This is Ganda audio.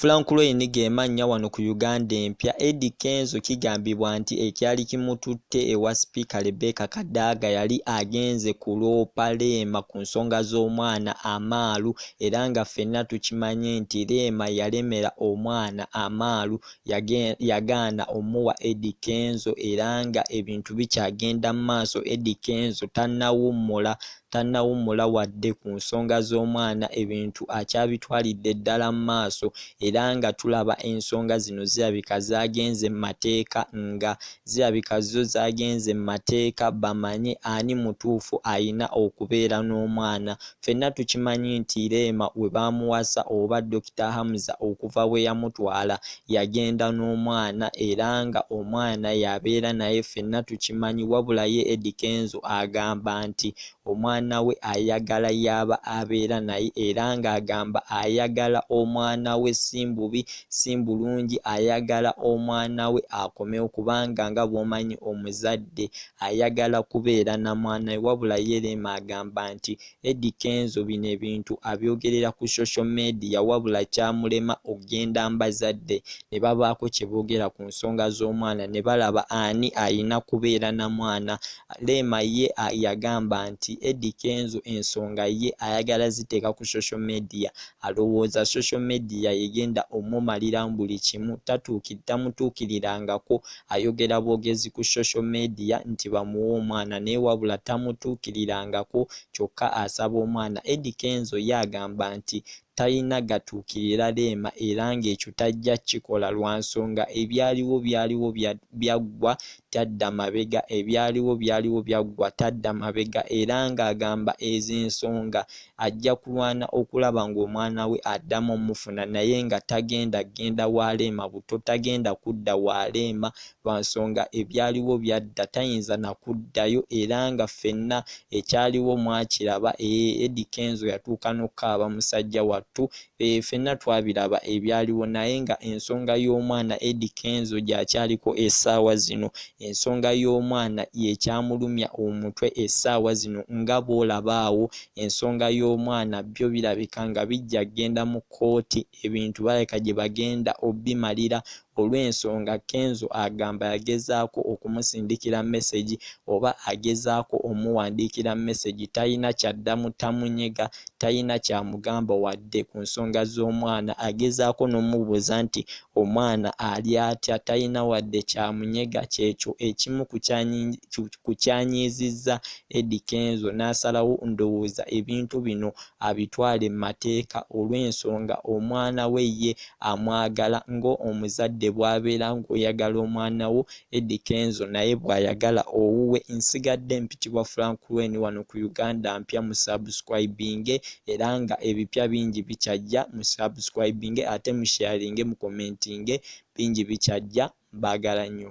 Frank Loeny ge mannya wano ku Uganda Empya. Eddy Kenzo kigambibwa nti ekyali kimututte ewa Sipiika Rebecca Kadaga yali agenze kuloopa Rema ku nsonga z'omwana Amaalu era nga ffenna tukimanyi nti Rema yalemera omwana Amaalu yagaana omuwa Eddy Kenzo era nga ebintu bikyagenda mu maaso Eddy Kenzo tannawummula tannawummula wadde ku nsonga z'omwana ebintu akyabitwalidde ddala mu maaso era nga tulaba ensonga zino zirabika zaagenze mu mateeka nga zirabika zo zaagenze mu mateeka bamanye ani mutuufu alina okubeera n'omwana. Ffenna tukimanyi nti Rema we baamuwasa oba Dokita Hamza okuva bwe yamutwala yagenda n'omwana era nga omwana y'abeera naye ffenna tukimanyi wabula ye Eddy Kenzo agamba nti omwana we ayagala y'aba abeera naye era nga agamba ayagala omwana we simbubi simbulungi ayagala omwana we akomewo kubanga nga bwomanyi omuzadde ayagala kubeera namwana we wabula ye Rema agamba nti Eddy Kenzo bino ebintu abyogerera ku social media wabula kyamulema okugenda mbazadde ne babaako kye boogera ku nsonga z'omwana ne balaba ani alina kubeera na mwana. Rema ye yagamba nti Eddy Kenzo ensonga ye ayagala ziteeka ku social media alowooza social media yegenda omumaliramu buli kimu tatuukitamuttuukirirangako Ayogera bwogezi ku social media nti bamuwe omwana naye wabula tamutuukirirangako kyokka asaba omwana. Eddy Kenzo ye agamba nti talina gatuukirira Rema era ng'ekyo tajja kukikola lwa nsonga ebyaliwo byaliwo byaggwa tadda mabega ebyaliwo byaliwo byaggwa tadda mabega era ng'agamba ezo ensonga Ajja kulwana okulaba ng'omwana we addamu omufuna naye nga tagenda kugenda wa Rema buto, tagenda kudda wa Rema lwa nsonga ebyaliwo byadda tayinza na kuddayo era nga ffenna ekyaliwo mwakiraba, eeh Eddy Kenzo yatuuka n'okukaaba musajja wattu Eeh fenna twabiraba ebyaliwo naye nga ensonga y'omwana Eddy Kenzo gyakyaliko esaawa zino ensonga y'omwana yekyamulumya omutwe esaawa zino nga bwolaba awo ensonga y'omwana byo birabika nga bijja genda mu kooti ebintu balabika gyebagenda obimalira olw'ensonga Kenzo agamba yagezaako okumusindikira mesegi oba agezaako omuwandiikira mesegi talina ky'addamu tamunyega talina ky'amugamba wadde ku nsonga z'omwana agezaako n'omubuuza nti omwana ali atya talina wadde ky'amunyega ky'ekyo ekimu ku kyanyiizizza Eddy Kenzo n'asalawo ndowooza ebintu bino abitwale mu mateeka olw'ensonga omwana we ye amwagala ng'omuzadde bw'abeera ng'oyagala omwana wo Eddy Kenzo naye bw'ayagala owuwe Nsigadde mpitibwa Frank Lwen wano ku Uganda Mpya mu subscribinge era nga ebipya bingi bikyajja mu subscribinge ate mu sharinge mu commentinge bingi bikyajja mbagala nnyo.